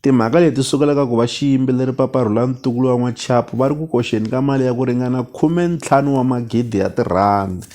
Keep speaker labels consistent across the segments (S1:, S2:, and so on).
S1: Timhaka leti sukela ka ku va xiyimbeleri Papa Rhulani ntukulu wa N'wachapu va ri ku koxeni ka mali ya ku ringana khumentlhanu wa magidi ya tirhandi.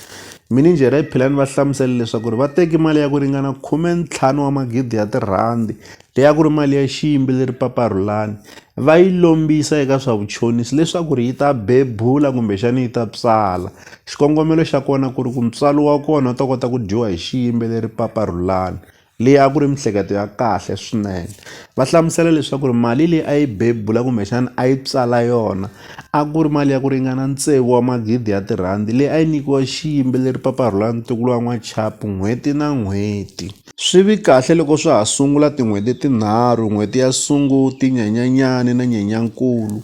S1: Mininjhere ya Philani va hlamusele leswaku ri va teki mali ya ku ringana khumentlhanu wa magidi ya tirhandi leyi a ku ri mali ya xiyimbeleri Papa Rhulani va yi lombisa eka swa vuchonisi leswaku ri yi ta bebula kumbexani yi ta tswala. Xikongomelo xa kona ku ri ku ntswalo wa kona wu ta kota ku dyiwa hi xiyimbeleri Papa Rhulani leyi a ku ri miehleketo ya kahle swinene va hlamusela leswaku ri mali leyi a yi bebula kumbexana a yi tswala yona a ku ri mali ya ku ringana tsevu wa magidi ya tirhandi leyi a yi nyikiwa xiyimbeleri paparhula ntukulu wa n'wachapu n'hweti na n'hweti swi vi kahle loko swa ha sungula tin'hweti tinharhu n'hweti ya sunguti nyanyanyani na nyenyankulu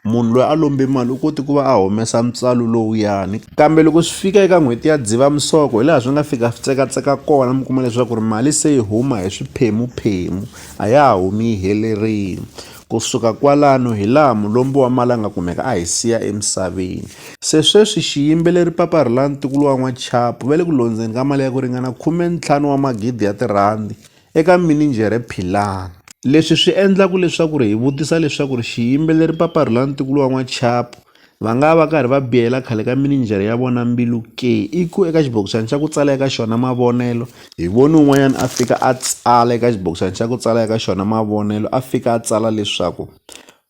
S1: munhu loyi a lombe mali u koti ku va a humesa ntswalo lowuyani kambe loko swi fika eka n'hweti ya dzivamisoko hi laha swi nga fika swi tsekatseka kona mi kuma leswaku ri mali se yi huma hi swiphemuphemu a ya ha humi yi helerile kusuka kwalano hi laha mulombi wa mali a nga kumeka a hi siya emisaveni se sweswi xiyimbeleri papa rilani tikulo wa n'wachapu va le ku londzeni ka mali ya ku ringana khume ntlhanu wa magidi ya tirhandi eka mininjhere Philani. Leswi swi endlaka leswaku hi vutisa leswaku xiyimbeleri Papa Rhulani-Tiko Luwa N'wachapu va nga va karhi va biyela khale ka mininjhere ya vona mbilu ke? I ku eka xibokisana xa ku tsala eka xona mavonelo, hi voni un'wanyana a fika a tsala eka xibokisana xa ku tsala eka xona mavonelo a fika a tsala leswaku,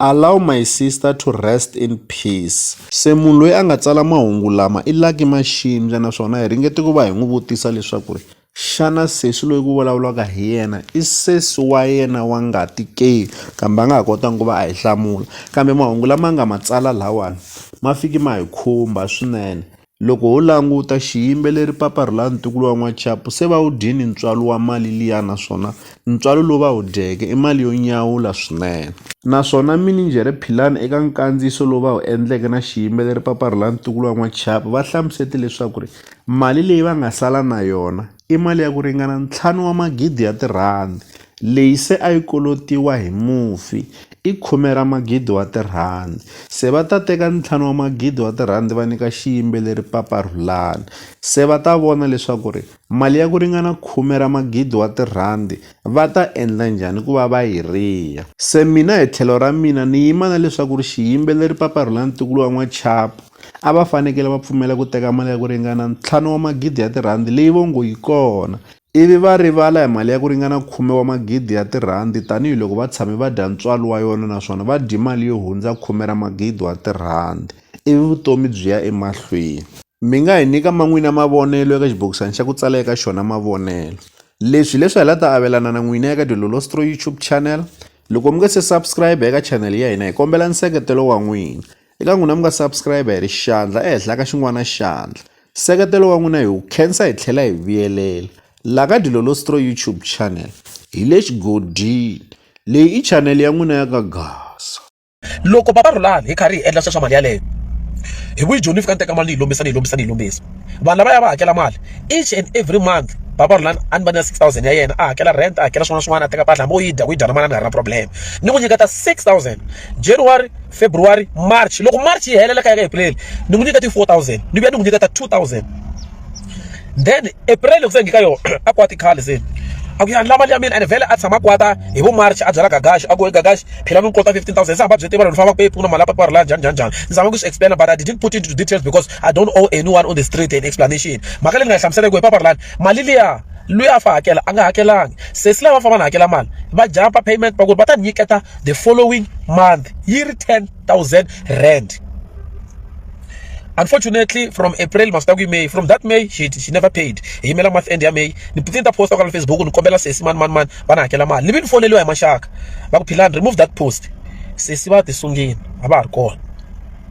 S1: Allow my sister to rest in peace. Se munhu loyi a nga tsala mahungu lama i Lucky Maxindza naswona hi ringete ku va hi n'wi vutisa leswaku ri xana sesi loyi ku vulavulaka hi yena i sesi wa yena wa ngati ke kambe a nga ha kotanga ku va a hi hlamula kambe mahungu lama nga ma tsala lawani ma fiki ma hi khumba swinene. Loko ho languta xiyimbeleri Papa Rhulani ntukulu wa N'wachapu se va wu dyini ntswalo wa mali liya naswona ntswalo lowu va wu dyeke i mali yo nyawula swinene. Naswona mininjhere Philani eka nkandziyiso lowu va wu endleke na xiyimbeleri Papa Rhulani ntukulu wa N'wachapu va hlamusete leswaku mali leyi va nga sala na yona i mali ya ku ringana ntlhanu wa magidi ya tirhandi leyi se a yi kolotiwa hi mufi i khume ra magidi wa tirhandi se va ta teka ntlhanu wa magidi wa tirhandi va nyika xiyimbeleri Papa Rhulani se va ta vona leswaku ri mali ya ku ringana khume ra magidi wa tirhandi va ta endla njhani ku va va yi riha se mina hi tlhelo ra mina ni yima na leswaku ri xiyimbeleri Papa Rhulani Tikulu wa N'wachapu a va fanekele va pfumela ku teka mali ya ku ringana ntlhanu wa magidi ya tirhandi leyi vo ngo yi kona ivi va rivala hi mali ya ku ringana khume wa magidi ya tirhandi tanihiloko va tshame va dya ntswalo wa yona naswona va dye mali yo hundza khume ra magidi wa tirhandi ivi vutomi byi ya emahlweni mi nga hi nyika man'wina mavonelo eka xibokisana xa ku tsala eka xona mavonelo leswi leswi hi la ta avelana na n'wina eka dilolostro youtube channel loko mi nga se subscribe eka channel ya hina hi kombela nseketelo wa n'wina eka n'wina mi nga subscribe hi ri xandla ehenhla ka xin'wana xandla nseketelo wa n'wina hi wu khensa hi tlhela hi vuyelela la ka dilolostro youtube channel hi le xigodini leyi i chanele ya n'wina ya ka gasa loko papa
S2: rhulani hi karhi hi endla sweswa mali yaleyo hi vuyi joni ni fika ni teka mali ni yi lombisa ni yi lombisa ni yi lombisa vanhu lava ya va hakela mali each and every month papa rhulani a ni va na six thousand ya yena a hakela rent a hakela swin'wana na swin'wana a teka mpahla hambi wo yi dya ku yi dya na manana a nga ri na problem ni n'wi nyiketa six thousand january february march loko march yi helela ka ya ka april ni n'wi nyika ti 4000 ni vuya ni n'wi nyika ta 2000 then april loko se ngika yona a kwati khale se a ku ya la mali ya mina and vhele a tshama kwata hi vo march a byela gagaxi a ku gagaxi phela mi kota 15000 se hamba byi tiva loko famba ku pfuna mali papara la njhani njhani njhani ni zama ku swi explain but i didn't put into details because i don't owe anyone on the street an explanation mhaka leyi ni nga yi hlamuseleke hi papara lani mali liya loyi a fa hakela a nga hakelanga sesi lava famba na hakela mali va jampa payment va ku va ta nyiketa the following month yi ri 10000 rand unfortunately from april masita ku may from that may she, she never paid hi yimela month end ya may ni ni ta posta kwala facebook ni kombela sesi mani mani mani va na hakela mali ni vi ni foneliwa hi maxaka va ku philani remove that post sesi va ti sungini a va ha ri kona